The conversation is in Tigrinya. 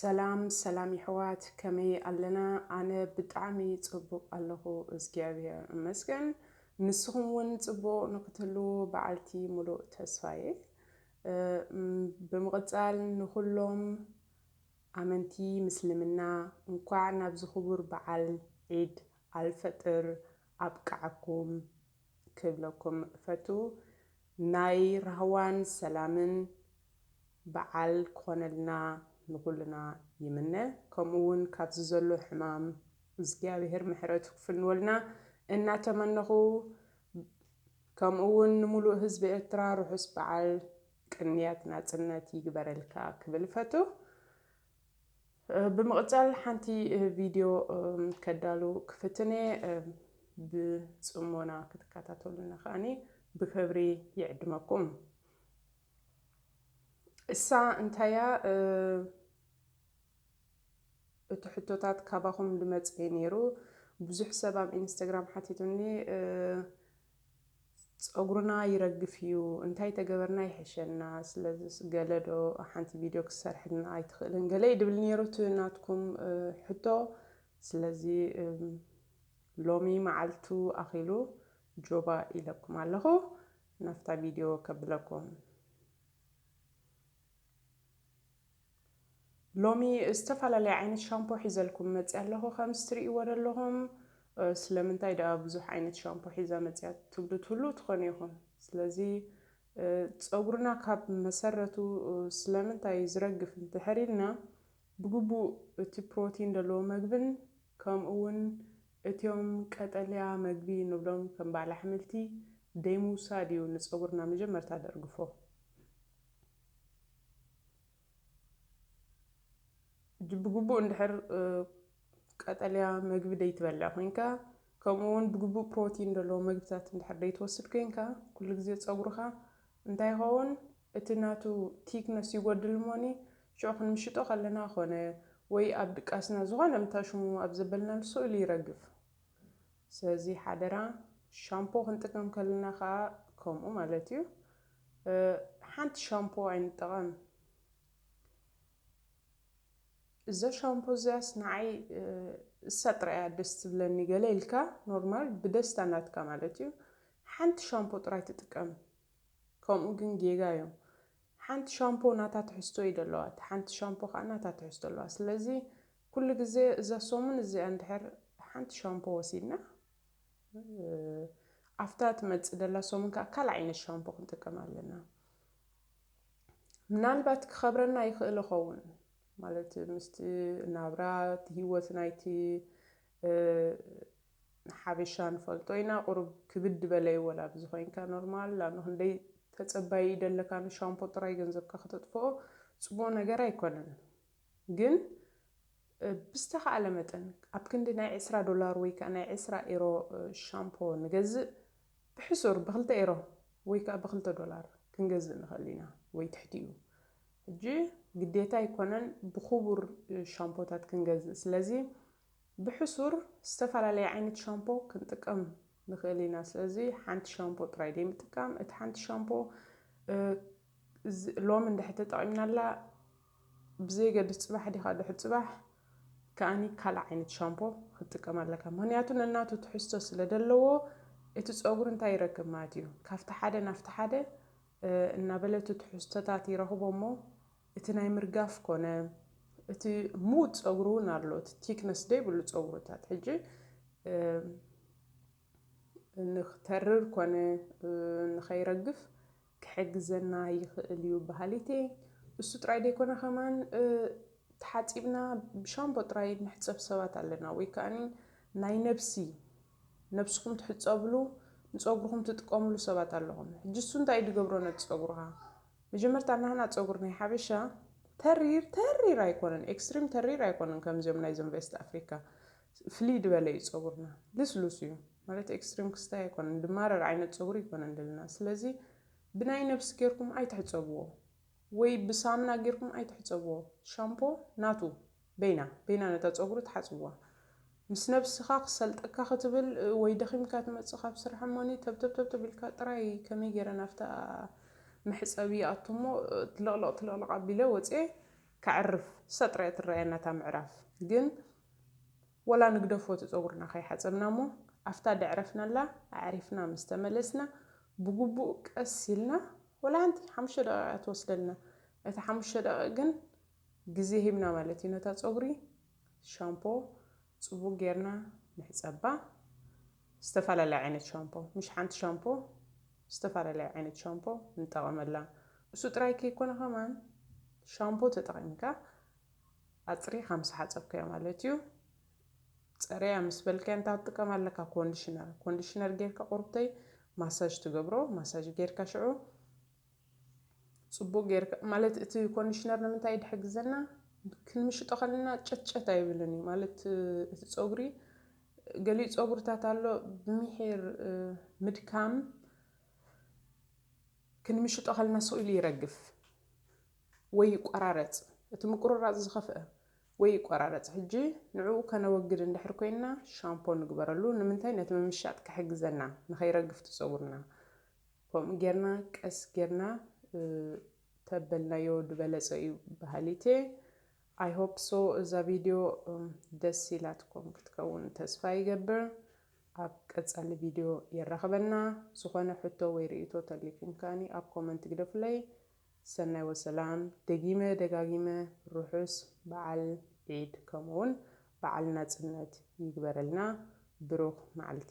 ሰላም ሰላም ይሕዋት ከመይ ኣለና ኣነ ብጣዕሚ ጽቡቅ ኣለኩ እግዚኣብሔር እመስገን ንስኩም ውን ጽቡቅ ንክትህልዉ በዓልቲ ሙሉእ ተስፋ እየ ብምቅጻል ንኩሎም ኣመንቲ ምስልምና እንኳዕ ናብዚ ክቡር በዓል ዒድ ኣልፈጥር ኣብቀዓኩም ክብለኩም እፈቱ ናይ ራህዋን ሰላምን ባዓል ክኾነልና ንኹልና ይምነ ከምኡ ውን ካብዚ ዘሎ ሕማም እዝግኣብሄር ምሕረቱ ክፍንወልና እናተመነኹ ከምኡ ውን ንሙሉእ ህዝቢ ኤርትራ ርሑስ ባዓል ቅንያት ናጽነት ይግበረልካ ክብል እፈቱ ብምቕጻል ሓንቲ ቪድዮ ከዳሉ ክፍትን እየ ብጽሞና ክትከታተሉኒ ከኣኒ ብክብሪ ይዕድመኩም። እሳ እንታይ እያ እቲ ሕቶታት ካባኹም ድመጽ እየ ኔሩ ብዙሕ ሰብ ኣብ ኢንስተግራም ሓቲቱኒ ጸጉርና ይረግፍ እዩ እንታይ ተገበርና ይሕሸና ስለዝስ ገለ ዶ ሓንቲ ቪድዮ ክትሰርሕልና ኣይትኽእልን ገለ እዩ ድብል ነይሩ እቲ ናትኩም ሕቶ ስለዚ ሎሚ መዓልቱ ኣኺሉ ጆባ ኢለኩም ኣለኹ ናፍታ ቪድዮ ከብለኩም ሎሚ ዝተፈላለየ ዓይነት ሻምፖ ሒዘልኩም መጺኣ ኣለኹ ከምዚ ትርእይዎ ዘለኹም ስለምንታይ ደኣ ብዙሕ ዓይነት ሻምፖ ሒዛ መጺኣ ትብሉ ትህልው ትኾኑ ኢኹም ስለዚ ጸጉርና ካብ መሰረቱ ስለምንታይ ዝረግፍ እንድሕር ኢልና ብግቡእ እቲ ፕሮቲን ዘለዎ መግብን ከምኡ ውን እትዮም ቀጠልያ መግቢ ንብሎም ከም በዓል ኣሕምልቲ ደይምውሳድ እዩ ንጸጉርና መጀመርታ ደርግፎ። ሕጂ ብግቡእ እንድሕር ቀጠልያ መግቢ ደይትበልዕ ኮይንካ ከምኡ እውን ብግቡእ ፕሮቲን ዘለዎ መግብታት እንድሕር ደይትወስድ ኮይንካ ኩሉ ግዜ ፀጉርኻ እንታይ ይኸውን እቲ ናቱ ቲክነስ ይጎድል እሞኒ ሽዑ ክንምሽጦ ከለና ኮነ ወይ ኣብ ድቃስና ዝኾነ ምታሽሙ ኣብ ዘበልናሉ ስእሉ ይረግፍ ስለዚ ሓደራ ሻምፖ ክንጥቀም ከለና ከኣ ከምኡ ማለት እዩ ሓንቲ ሻምፖ ኣይንጠቐም እዛ ሻምፖ እዚኣስ ንዓይ እሳ ጥራይ እያ ደስ ትብለኒ ገለ ኢልካ ኖርማል ብደስታ ናትካ ማለት እዩ ሓንቲ ሻምፖ ጥራይ ትጥቀም ከምኡ ግን ጌጋ እዩ ሓንቲ ሻምፖ ናታ ትሕዝቶ እዩ ደለዋ እቲ ሓንቲ ሻምፖ ከዓ ናታ ትሕዝቶ ኣለዋ ስለዚ ኩሉ ግዜ እዛ ሰሙን እዚኣ እንድሕር ሓንቲ ሻምፖ ወሲድና ኣፍታ ትመጽእ ደላ ሰሙን ከኣ ካልእ ዓይነት ሻምፖ ክንጥቀም ኣለና። ምናልባት ክኸብረና ይኽእል ይኸውን ማለት ምስቲ ናብራ እቲ ሂወት ናይቲ ንሓበሻ ንፈልጦ ኢና ቁሩብ ክብድ በለ እዩ ወላ ብዚ ኮይንካ ኖርማል ላኣኑ ክንደይ ተጸባዪ ደለካ ንሻምፖ ጥራይ ገንዘብካ ከተጥፍኦ ጽቡቕ ነገር ኣይኮነን። ግን ብዝተኻእለ መጠን ኣብ ክንዲ ናይ ዕስራ ዶላር ወይ ከኣ ናይ ዕስራ ኤሮ ሻምፖ ንገዝእ ብሕሱር ብክልተ ኤሮ ወይ ከኣ ብክልተ ዶላር ክንገዝእ ንኽእል ኢና ወይ ትሕቲኡ ሕጂ ግዴታ ኣይኮነን ብኹቡር ሻምፖታት ክንገዝእ ስለዚ ብሕሱር ዝተፈላለየ ዓይነት ሻምፖ ክንጥቀም ንኽእል ኢና ስለዚ ሓንቲ ሻምፖ ጥራይ ዘይምጥቃም እቲ ሓንቲ ሻምፖ ሎሚ እንድሕር ተጠቒምናላ ብዘየገድስ ጽባሕ ዲኻ ድሕሪ ጽባሕ ከኣ ካልእ ዓይነት ሻምፖ ክትጥቀም ኣለካ ምኽንያቱ ነናቱ ትሕዝቶ ስለ ደለዎ እቲ ጸጉሪ እንታይ ይረክብ ማለት እዩ ካብቲ ሓደ ናብቲ ሓደ እናበለቱ ትሕዝቶታት ይረኽቦ እሞ እቲ ናይ ምርጋፍ ኮነ እቲ ምዉት ጸጉሪ እውን ኣሎ እቲ ቲክነስ ደይብሉ ጸጉርታት ሕጂ ንክተርር ኮነ ንኸይረግፍ ክሕግዘና ይኽእል እዩ በሃሊት እየ። እሱ ጥራይ ደይኮነ ከማን ተሓጺብና ብሻምፖ ጥራይ እንሕጸብ ሰባት ኣለና ወይ ከኣ ናይ ነብሲ ነብስኹም ትሕጸብሉ ንጸጉርኹም ትጥቀምሉ ሰባት ኣለኹም ሕጂ እሱ እንታይ እዩ ድገብሮ ነቲ ጸጉርኻ መጀመርታ ናህና ጸጉር ናይ ሓበሻ ተሪር ተሪር ኣይኮነን ኤክስትሪም ተሪር ኣይኮነን ከምዚኦም ናይዞም ቬስት ኣፍሪካ ፍልይ ድበለ እዩ ጸጉርና ልስሉስ እዩ። ማለት ኤክስትሪም ክስታይ ኣይኮነን ድማረር ዓይነት ጸጉሪ ኣይኮነን ደለና ስለዚ ብናይ ነብሲ ጌርኩም ኣይትሕጸብዎ ወይ ብሳምና ጌርኩም ኣይትሕጸብዎ ሻምፖ ናቱ በይና በይና ነታ ጸጉሪ ትሓጽብዋ ምስ ነብስካ ክሰልጠካ ክትብል ወይ ደኺምካ ትመጽእ ካብ ስራሕ እሞኒ ተብተብተብተብ ኢልካ ጥራይ ከመይ ጌረ ናፍታ መሕጸቢ ይኣቱሞ ትልቕልቕ ትልቕልቕ ኣቢለ ወጽየ ከዕርፍ እሳ ጥራይ እያ ትረኣየና እታ ምዕራፍ ግን ወላ ንግደፎ እቲ ጸጉርና ከይሓጸብና እሞ ኣፍታ ደዕረፍናላ ኣዕሪፍና ምስ ተመለስና ብግቡእ ቀስ ኢልና ወላ ሓንቲ ሓሙሽተ ደቒቕ እያ ትወስደልና እታ ሓሙሽተ ደቒቕ ግን ግዜ ሂብና ማለት እዩ ነታ ጸጉሪ ሻምፖ ጽቡቕ ጌርና ንሕጸባ ዝተፈላለየ ዓይነት ሻምፖ ምሽ ሓንቲ ሻምፖ ዝተፈላለየ ዓይነት ሻምፖ ንጠቐመላ እሱ ጥራይ ከይኮነ ከማን ሻምፖ ተጠቒምካ ኣጽሪኻ ምስ ሓጸብካዮ ማለት እዩ። ጸርያ ምስ በልካዮ እንታይ ክትጥቀም ኣለካ ኮንዲሽነር ኮንዲሽነር ጌርካ ቁርብተይ ማሳጅ ትገብሮ ማሳጅ ጌርካ ሽዑ ጽቡቅ ጌርካ ማለት እቲ ኮንዲሽነር ንምንታይ ድሕግዘና ክንምሽጦ ከለና ጨትጨት ኣይብልን እዩ ማለት እቲ ጸጉሪ ገሊኡ ጸጉርታት ኣሎ ብምሒር ምድካም ክንምሽጦ ከለና ስኢሉ ይረግፍ ወይ ይቆራረጽ እቲ ምቁርራጽ ዝኸፍኣ ወይ ይቆራረጽ ሕጂ ንዕኡ ከነወግድ እንድሕር ኮይንና ሻምፖ ንግበረሉ ንምንታይ ነቲ ምምሻጥ ክሕግዘና ንኸይረግፍ እቲ ጸጉርና ከምኡ ጌርና ቀስ ጌርና ተበልናዮ ድበለጸ እዩ በሃሊትየ ኣይ ሆፕ ሶ እዛ ቪድዮ ደስ ኢላትኩም ክትከውን ተስፋ ይገብር ኣብ ቀጻሊ ቪድዮ የራኽበና ዝኾነ ሕቶ ወይ ርእይቶ ተሊኩም ከኣኒ ኣብ ኮመንት ግደፉለይ ሰናይ ወሰላም ደጊመ ደጋጊመ ርሑስ በዓል ዒድ ከምኡውን በዓል ናጽነት ይግበረልና ብሩኽ መዓልቲ።